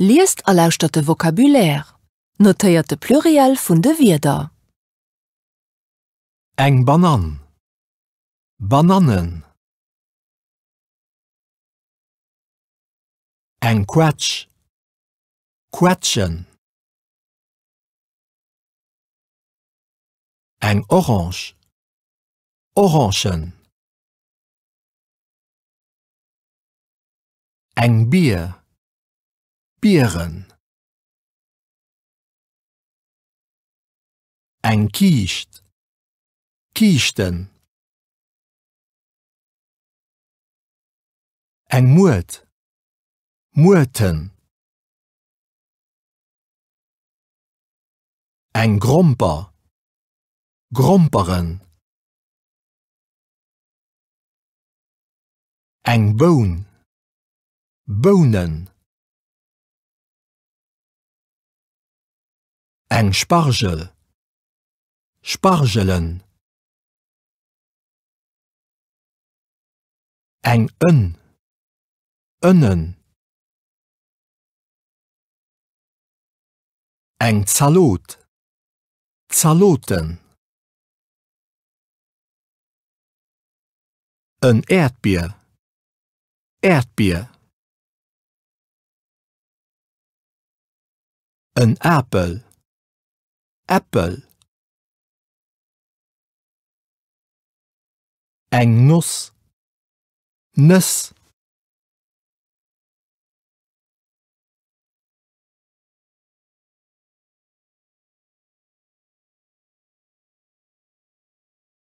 Liest a lauschtert de Vocabulaire. Notéiert de Pluriel vun de Wierder. Eng Banann. Banannen. Eng Quetsch. Quetschen. Eng Orange. Orangen. Eng Bier, Bieren. Eng Kiischt, Kiischten. Eng Muert, Muerten. Eng Gromper, Gromperen. Eng Boun, Bounen. Eng Spargel, Spargelen. Eng Ënn, Ënnen. Eng Zalot, Zaloten. En Äerdbier. Äerdbier. En Apel. Äppel. Eng Noss. Nëss.